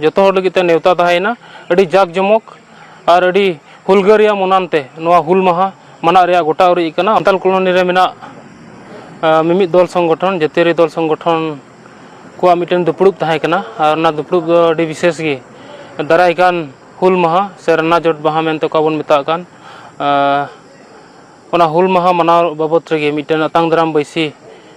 ᱡᱚᱛᱚ ᱦᱚᱲ ᱞᱟᱹᱜᱤᱫ ᱛᱮ ᱱᱮᱣᱛᱟ ᱛᱟᱦᱮᱸᱭᱮᱱᱟ ᱟᱹᱰᱤ ᱡᱟᱠ ᱡᱚᱢᱚᱠ ᱟᱨ ᱟᱹᱰᱤ ᱦᱩᱞᱜᱟᱹᱨᱤᱭᱟᱹ ᱢᱚᱱᱟᱱ ᱛᱮ ᱱᱚᱣᱟ ᱦᱩᱞ ᱢᱟᱦᱟ ᱢᱟᱱᱟᱜ ᱨᱮᱭᱟᱜ ᱜᱚᱴᱟ ᱩᱨᱤᱡ ᱟᱠᱟᱱᱟ ᱥᱟᱱᱛᱟᱞ ᱠᱚᱞᱚᱱᱤ ᱨᱮ ᱢᱮᱱᱟᱜ ᱢᱤᱢᱤᱫ ᱫᱚᱞ ᱥᱚᱝᱜᱚᱴᱷᱚᱱ ᱡᱟᱹᱛᱤᱭᱟᱹᱨᱤ ᱫᱚᱞ ᱥᱚᱝᱜᱚᱴᱷᱚᱱ ᱠᱚᱣᱟᱜ ᱢᱤᱫᱴᱮᱱ ᱫᱩᱯᱲᱩᱵ ᱛᱟᱦᱮᱸ ᱠᱟᱱᱟ ᱟᱨ ᱚᱱᱟ ᱫᱩᱯᱲᱩᱵ ᱫᱚ ᱟᱹᱰᱤ ᱵᱤᱥᱮᱥ ᱜᱮ ᱫᱟᱨᱟᱭ ᱠᱟᱱ ᱦᱩᱞ ᱢᱟᱦᱟ ᱥᱮ ᱨᱟᱱᱟᱡᱚᱴ ᱢᱟᱦᱟ ᱢᱮᱱᱛᱮ ᱚᱠᱟ ᱵᱚᱱ ᱢᱮᱛᱟᱜ ᱠᱟᱱ ᱚᱱᱟ ᱦᱩᱞ ᱢᱟᱦᱟ ᱢᱟᱱᱟᱣ ᱵᱟᱵᱚᱛ ᱨᱮᱜᱮ ᱢᱤᱫᱴᱮᱱ ᱟᱛᱟᱝ ᱫᱟᱨᱟᱢ ᱵᱟᱹᱭᱥᱤ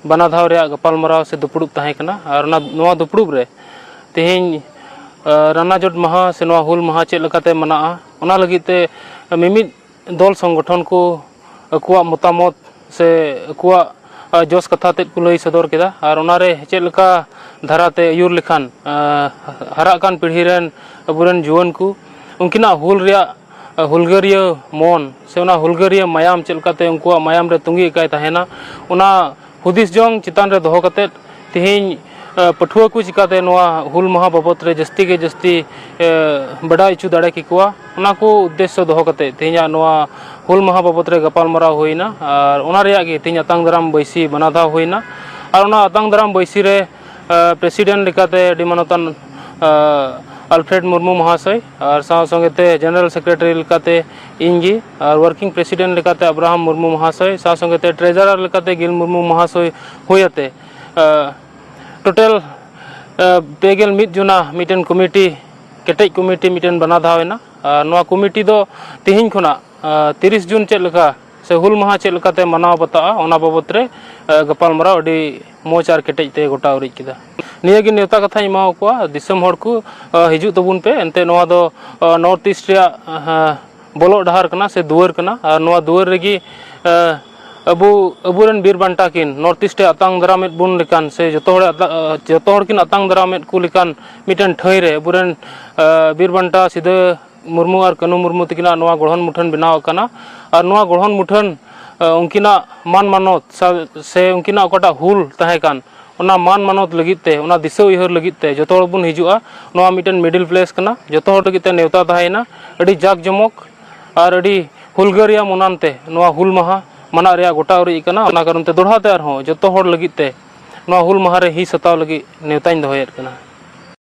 ᱵᱟᱱᱟ ᱫᱷᱟᱣ ᱨᱮᱭᱟᱜ ᱜᱟᱯᱟᱞᱢᱟᱨᱟᱣ ᱥᱮ ᱫᱩᱯᱲᱩᱵ ᱛᱟᱦᱮᱸ ᱠᱟᱱᱟ ᱟᱨ ᱚᱱᱟ ᱱᱚᱣᱟ ᱫᱩᱯᱲᱩᱵ ᱨᱮ ᱛᱮᱦᱮᱧ ᱨᱟᱱᱟ ᱡᱚᱴ ᱢᱟᱦᱟ ᱥᱮ ᱱᱚᱣᱟ ᱦᱩᱞ ᱢᱟᱦᱟ ᱪᱮᱫ ᱞᱮᱠᱟᱛᱮ ᱢᱟᱱᱟᱜᱼᱟ ᱚᱱᱟ ᱞᱟᱹᱜᱤᱫ ᱛᱮ ᱢᱤᱢᱤᱫ ᱫᱚᱞ ᱥᱚᱝᱜᱚᱴᱷᱚᱱ ᱠᱚ ᱟᱠᱚᱣᱟᱜ ᱢᱚᱛᱟᱢᱚᱛ ᱥᱮ ᱟᱠᱚᱣᱟᱜ ᱡᱚᱥ ᱠᱟᱛᱷᱟ ᱛᱮᱫ ᱠᱚ ᱞᱟᱹᱭ ᱥᱚᱫᱚᱨ ᱠᱮᱫᱟ ᱟᱨ ᱚᱱᱟ ᱨᱮ ᱪᱮᱫ ᱞᱮᱠᱟ ᱫᱷᱟᱨᱟ ᱛᱮ ᱟᱹᱭᱩᱨ ᱞᱮᱠᱷᱟᱱ ᱦᱟᱨᱟᱜ ᱠᱟᱱ ᱯᱤᱲᱦᱤ ᱨᱮᱱ ᱟᱵᱚ ᱨᱮᱱ ᱡᱩᱣᱟᱹᱱ ᱠᱚ ᱩᱱᱠᱤᱱᱟᱜ ᱦᱩᱞ ᱨᱮᱭᱟᱜ ᱦᱩᱞᱜᱟᱹᱨᱤᱭᱟᱹ ᱢᱚᱱ ᱥᱮ ᱚᱱᱟ ᱦᱩᱞᱜᱟᱹᱨᱤᱭᱟᱹ ᱢᱟᱭᱟᱢ ᱪᱮᱫ ᱞᱮᱠᱟᱛᱮ ᱩᱱᱠᱩᱣᱟᱜ ᱢᱟᱭᱟᱢ ᱨᱮ ᱛᱩᱸᱜᱤ ᱟᱠᱟᱭ ᱛᱟᱦᱮᱱᱟ ᱚᱱᱟ ᱦᱩᱫᱤᱥ ᱡᱚᱝ ᱪᱮᱛᱟᱱ ᱨᱮ ᱫᱚᱦᱚ ᱠᱟᱛᱮᱫ ᱛᱮᱦᱮᱧ ᱯᱟᱹᱴᱷᱩᱣᱟᱹ ᱠᱚ ᱪᱤᱠᱟᱹᱛᱮ ᱱᱚᱣᱟ ᱦᱩᱞ ᱢᱟᱦᱟ ᱵᱟᱵᱚᱫᱽ ᱨᱮ ᱡᱟᱹᱥᱛᱤ ᱜᱮ ᱡᱟᱹᱥᱛᱤ ᱵᱟᱰᱟᱭ ᱦᱚᱪᱚ ᱫᱟᱲᱮ ᱠᱮᱠᱚᱣᱟ ᱚᱱᱟ ᱠᱚ ᱩᱫᱽᱫᱮᱥᱥᱚ ᱫᱚᱦᱚ ᱠᱟᱛᱮᱫ ᱛᱮᱦᱮᱧᱟᱜ ᱱᱚᱣᱟ ᱦᱩᱞ ᱢᱟᱦᱟ ᱵᱟᱵᱚᱫᱽ ᱨᱮ ᱜᱟᱯᱟᱞᱢᱟᱨᱟᱣ ᱦᱩᱭᱱᱟ ᱟᱨ ᱚᱱᱟ ᱨᱮᱭᱟᱜ ᱜᱮ ᱛᱮᱦᱮᱧ ᱟᱛᱟᱝ ᱫᱟᱨᱟᱢ ᱵᱟᱹᱭᱥᱤ ᱢᱟᱱᱟᱣ ᱫᱷᱟᱣ ᱦᱩᱭᱱᱟ ᱟᱨ ᱚᱱᱟ ᱟᱛᱟᱝ ᱫᱟᱨᱟᱢ ᱵᱟᱹᱭᱥᱤ ᱨᱮ ᱯᱨᱮᱥᱤᱰᱮᱱᱴ ᱞᱮᱠᱟᱛᱮ ᱟᱹᱰᱤ ᱢᱟᱱᱚᱛᱟᱱ ᱟᱞᱯᱷᱨᱮᱰ ᱢᱩᱨᱢᱩ ᱢᱚᱦᱟᱥᱚᱭ ᱟᱨ ᱥᱟᱶ ᱥᱚᱸᱜᱮ ᱛᱮ ᱡᱮᱱᱟᱨᱮᱞ ᱥᱮᱠᱨᱮᱴᱟᱨᱤ ᱞᱮᱠᱟᱛᱮ ᱤᱧ ᱜᱮ ᱟᱨ ᱣᱟᱨᱠᱤᱝ ᱯᱨᱮᱥᱤᱰᱮᱱᱴ ᱞᱮᱠᱟᱛᱮ ᱟᱵᱨᱟᱦᱟᱢ ᱢᱩᱨᱢᱩ ᱢᱚᱦᱟᱥᱚᱭ ᱥᱟᱶ ᱥᱚᱸᱜᱮ ᱛᱮ ᱴᱨᱮᱡᱟᱨᱟᱨ ᱞᱮᱠᱟᱛᱮ ᱜᱤᱞ ᱢᱩᱨᱢᱩ ᱢᱚᱦᱟᱥᱚᱭ ᱦᱩᱭ ᱟᱛᱮ ᱴᱳᱴᱟᱞ ᱯᱮ ᱜᱮᱞ ᱢᱤᱫ ᱡᱚᱱᱟ ᱢᱤᱫᱴᱮᱱ ᱠᱚᱢᱤᱴᱤ ᱠᱮᱴᱮᱡ ᱠᱚᱢᱤᱴᱤ ᱢᱤᱫᱴᱮᱱ ᱵᱮᱱᱟᱣ ᱫᱷᱟᱣ ᱮᱱᱟ ᱟᱨ ᱱᱚᱣᱟ ᱠᱚᱢᱤᱴᱤ ᱫᱚ ᱛᱮᱦᱮᱧ ᱠᱷᱚᱱᱟᱜ ᱛᱤᱨᱤᱥ ᱡᱩᱱ ᱪᱮᱫ ᱞᱮᱠᱟ ᱥᱮ ᱦᱩᱞ ᱢᱟᱦᱟ ᱪᱮᱫ ᱞᱮᱠᱟᱛᱮ ᱢᱟᱱᱟᱣ ᱵᱟᱛᱟᱜᱼᱟ ᱚᱱᱟ ᱵᱟᱵᱚᱛ ᱨᱮ ᱜᱟᱯᱟᱞᱢᱟᱨᱟᱣ ᱟᱹᱰᱤ ᱢᱚᱡᱽ ᱟᱨ ᱠᱮᱴᱮᱡ ᱛᱮ ᱜᱚᱴᱟ ᱩᱨᱤᱡ ᱠᱮᱫᱟ ᱱᱤᱭᱟᱹᱜᱮ ᱱᱮᱣᱛᱟ ᱠᱟᱛᱷᱟᱧ ᱮᱢᱟ ᱠᱚᱣᱟ ᱫᱤᱥᱚᱢ ᱦᱚᱲ ᱠᱚ ᱦᱤᱡᱩᱜ ᱛᱟᱵᱚᱱ ᱯᱮ ᱮᱱᱛᱮ ᱱᱚᱣᱟ ᱫᱚ ᱱᱚᱨᱛᱷ ᱤᱥᱴ ᱨᱮᱭᱟᱜ ᱵᱚᱞᱚᱜ ᱰᱟᱦᱟᱨ ᱠᱟᱱᱟ ᱥᱮ ᱫᱩᱣᱟᱹᱨ ᱠᱟᱱᱟ ᱟᱨ ᱱᱚᱣᱟ ᱫᱩᱣᱟᱹᱨ ᱨᱮᱜᱮ ᱟᱵᱚ ᱟᱵᱚᱨᱮᱱ ᱵᱤᱨ ᱵᱟᱱᱴᱟ ᱠᱤᱱ ᱱᱚᱨᱛᱷ ᱤᱥᱴ ᱮ ᱟᱛᱟᱝ ᱫᱟᱨᱟᱢᱮᱫ ᱵᱚᱱ ᱞᱮᱠᱟᱱ ᱥᱮ ᱡᱚᱛᱚ ᱦᱚᱲ ᱡᱚᱛᱚ ᱦᱚᱲ ᱠᱤᱱ ᱟᱛᱟᱝ ᱫᱟᱨᱟᱢᱮᱫ ᱠᱚ ᱞᱮᱠᱟᱱ ᱢᱤᱫᱴᱮᱱ ᱴᱷᱟᱹᱭ ᱨᱮ ᱟᱵᱚᱨᱮᱱ ᱵᱤᱨ ᱵᱟᱱᱴᱟ ᱥᱤᱫᱟᱹ ᱢᱩᱨᱢᱩ ᱟᱨ ᱠᱟᱹᱱᱩ ᱢᱩᱨᱢᱩ ᱛᱟᱹᱠᱤᱱᱟᱜ ᱱᱚᱣᱟ ᱜᱚᱲᱦᱚᱱ ᱢᱩᱴᱷᱟᱹᱱ ᱵᱮᱱᱟᱣ ᱟᱠᱟᱱᱟ ᱟᱨ ᱱᱚᱣᱟ ᱜᱚᱲᱦᱚᱱ ᱢᱩᱴᱷᱟᱹᱱ ᱩᱱᱠᱤᱱᱟᱜ ᱢᱟᱱ ᱢᱟᱱᱚᱛ ᱥᱮ ᱩᱱᱠᱤᱱᱟᱜ ᱚᱠᱟᱴᱟᱜ ᱦᱩᱞ ᱛᱟᱦᱮᱸ ᱠᱟᱱ ᱚᱱᱟ ᱢᱟᱱ ᱢᱟᱱᱚᱛ ᱞᱟᱹᱜᱤᱫ ᱛᱮ ᱚᱱᱟ ᱫᱤᱥᱟᱹ ᱩᱭᱦᱟᱹᱨ ᱞᱟᱹᱜᱤᱫ ᱛᱮ ᱡᱚᱛᱚ ᱦᱚᱲ ᱵᱚᱱ ᱦᱤᱡᱩᱜᱼᱟ ᱱᱚᱣᱟ ᱢᱤᱫᱴᱮᱱ ᱢᱤᱰᱤᱞ ᱯᱞᱮᱥ ᱠᱟᱱᱟ ᱡᱚᱛᱚ ᱦᱚᱲ ᱞᱟᱹᱜᱤᱫ ᱛᱮ ᱱᱮᱣᱛᱟ ᱛᱟᱦᱮᱸᱭᱮᱱᱟ ᱟᱹᱰᱤ ᱡᱟᱠ ᱡᱚᱢᱚᱠ ᱟᱨ ᱟᱹᱰᱤ ᱦᱩᱞᱜᱟᱹᱨᱤᱭᱟᱹ ᱢᱚᱱᱟᱱ ᱛᱮ ᱱᱚᱣᱟ ᱦᱩᱞ ᱢᱟᱦᱟ ᱢᱟᱱᱟᱣ ᱨᱮᱭᱟᱜ ᱜᱚᱴᱟ ᱩᱨᱤᱡ ᱠᱟᱱᱟ ᱚᱱᱟ ᱠᱟᱨᱚᱱ ᱛᱮ ᱫᱚᱦᱲᱟ ᱛᱮ ᱟᱨᱦᱚᱸ ᱡᱚᱛᱚ ᱦᱚᱲ ᱞᱟᱹᱜᱤᱫ ᱛᱮ ᱱᱚᱣᱟ ᱦᱩᱞ ᱢᱟᱦᱟ ᱨᱮ ᱦᱤᱸᱥ ᱦᱟᱛᱟᱣ ᱞᱟᱹᱜᱤᱫ ᱱᱮᱣᱛᱟᱧ ᱫᱚᱦᱚᱭᱮᱫ ᱠᱟᱱᱟ